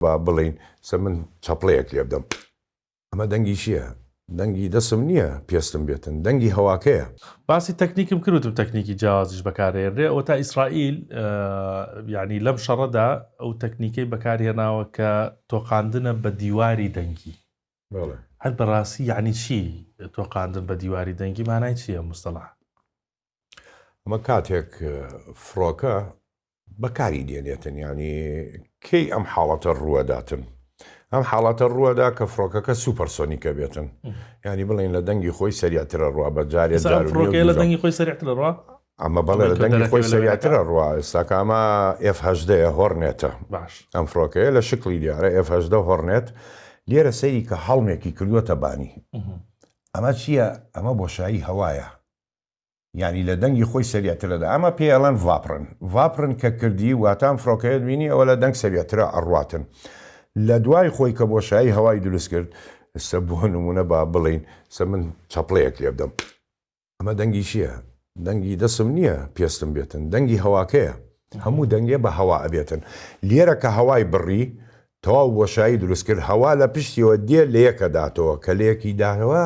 با بڵێین سە من چەپڵەیەک لێ بدەم ئەمە دەنگی چیە؟ دەنگی دەسم نیە پێستم بێتن دەنگی هەواکەیە. باسی تەکنیکم کرد وتم تەکنیکی جیاوازیش بەکاردەهێنرێ ئەوەتا ئیسرائیل یانی لەم شەڕەدا ئەو تەکنیکەی بەکارهێناوە کە تۆقاندنە بە دیواری دەنگی هەر بەڕاستی یعنی چی تۆقاندن بە دیواری دەنگی مانای چییە مستەڵاح ئەمە کاتێک فڕۆکە بەکاری دێنێتن ینی کەی ئەم حاڵەتە ڕووەداتن ئەم حاڵەتە ڕووەدا کە فڕۆکەکە سوپەرسۆنیکە بێتن ینی بڵین لە دەنگی خۆی سەریاترە ڕوا بە جارێ لە دەنگی خۆی سەرترە ڕوا ئەمە بەڵێ لە دەنگی خۆی سەریاترە ڕوا ئێستاکەمە F10ەیە هۆرنێتە باش ئەم فڕۆکەیە لە شکلی دیارە F10 هۆرنێت لێرە سەیری کە هەڵمێکی کردووەتە بانی ئەمە چییە ئەمە بۆشایی هەوایە یانی لە دەنگی خۆی سەریعترەدا ئەمە پێی ئەڵێن ڤاپرن ڤاپرن کە کردی واتا ئەم فرۆکەیەت بینی ئەوە لە دەنگ سەریعترە ئەڕواتن لە دوای خۆی کە بۆشایی هەوای دروست کرد سە بۆ نمونە با بڵێین سە من چەپڵەیەک لێ بدەم ئەمە دەنگی چییە دەنگی دەسم نییە پێستم بێتن دەنگی هەواکەیە هەموو دەنگێ بە هەوا ئەبێتن لێرە کە هەوای بڕی تەواو بۆشایی دروست کرد هەوا لە پشتیەوە دێ لە یەکە داتەوە کە لە یەکی داهەوە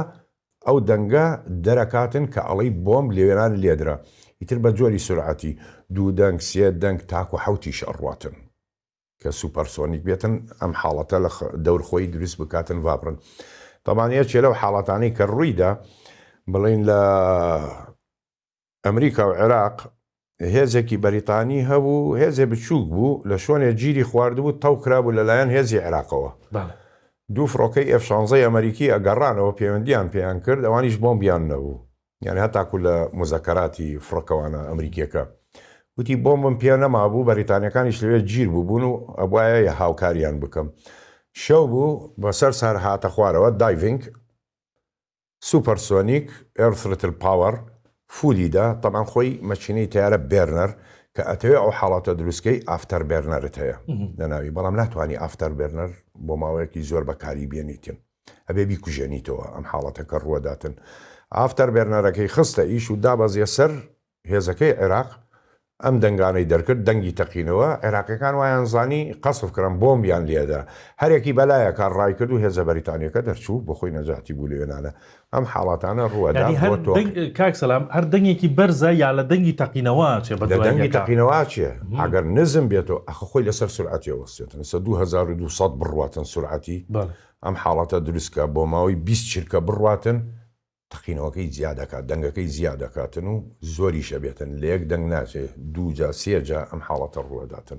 ئەو دەنگە دەرەکاتن کە ئەڵێی بۆمب لەوێران لێدرا ئیتر بە جۆری سورعەتی دوو دەنگ سێ دەنگ تاکو حەوتیش ئەڕواتن کە سوپەر سۆنیک بێتن ئەم حاڵەتە لە دەور خۆی دروست بکاتن ڤابڕن تەبان یەکێ لەو حاڵەتانەی کە ڕوویدا بڵێن لە ئەمریکا و عێراق هێزێکی بەریتانی هەبوو هێزێ بچووک بوو لە شوێنێ گیری خواردبوو تەو کرابوو لە لایەن هێزی عێراقەوە دوو فڕۆکەی ئێف شانزەی ئەمەریکی ئەگەڕانەوە پێوەندیان پێیان کرد ئەوانیش بۆمبیان نەبوو یانی هەتاکو لە موزەکەراتی فڕۆکەوانە ئەمریکیەکە وتی بۆمبم پێ نەمابوو بەریتانیەکانیش لەوێ گیر بووبوون و ئەبواە هاوکاریان بکەم شەو بوو بەسەر سەر هاتە خوارەوە دایڤنگ سوپەر سۆنیک ئێر ثرتل پاوەر فولی دە تەبعەن خۆی مەکینەی تەیارە بێرنەر کە ئەتەوێ ئەو حاڵەتە دروست کەی ئافتەر بێرنەرت هەیە لە ناوی بەڵام ناتوانی ئافتەر بێرنەر بۆ ماوەیەکی زۆر بەکاری بێنیتن ئەبێ بیکوژێنیتەوە ئەم حاڵەتەکە ڕووەداتن ئافتەر بێرنەرەکەی خستە ئیش و دابەزیە سەر هێزەکەی عێراق ئەم دەنگانەی دەرکرد دەنگی تەقینەوە، عێراقیەکان وایان زانی قەسف کران بۆمبیان لێدا، هەرێکی بەلایەکە ڕایکرد و هێزە بەریتانیەکە دەرچوو بۆخۆی نەجاتی بوو لەوێنانە ئەم حاڵاتانە ڕووەدا بۆ تۆ. کاک سەلام هەر دەنگێکی بەرزە یا لە دەنگی تەقینەوە ئەچێ بەدوای یەکا؟ لە دەنگی تەقینەوە ئەچێ ئەگەر نزم بێتۆ ئەخە خۆی لەسەر سورعەتی ئەوەستێتن لەسەر دوو هەزار و دوو سەد بڕواتن سورعەتی ئەم حاڵەتە دروستکە بۆماوەی بیست چرکە بڕواتن تەقینەوەکەی جیا دەکات دەنگەکەی جیا دەکاتن و زۆریش ئەبێتن لە یەک دەنگ ناچێ دوو جا سێ جا ئەم حاڵەتە ڕووئەداتن.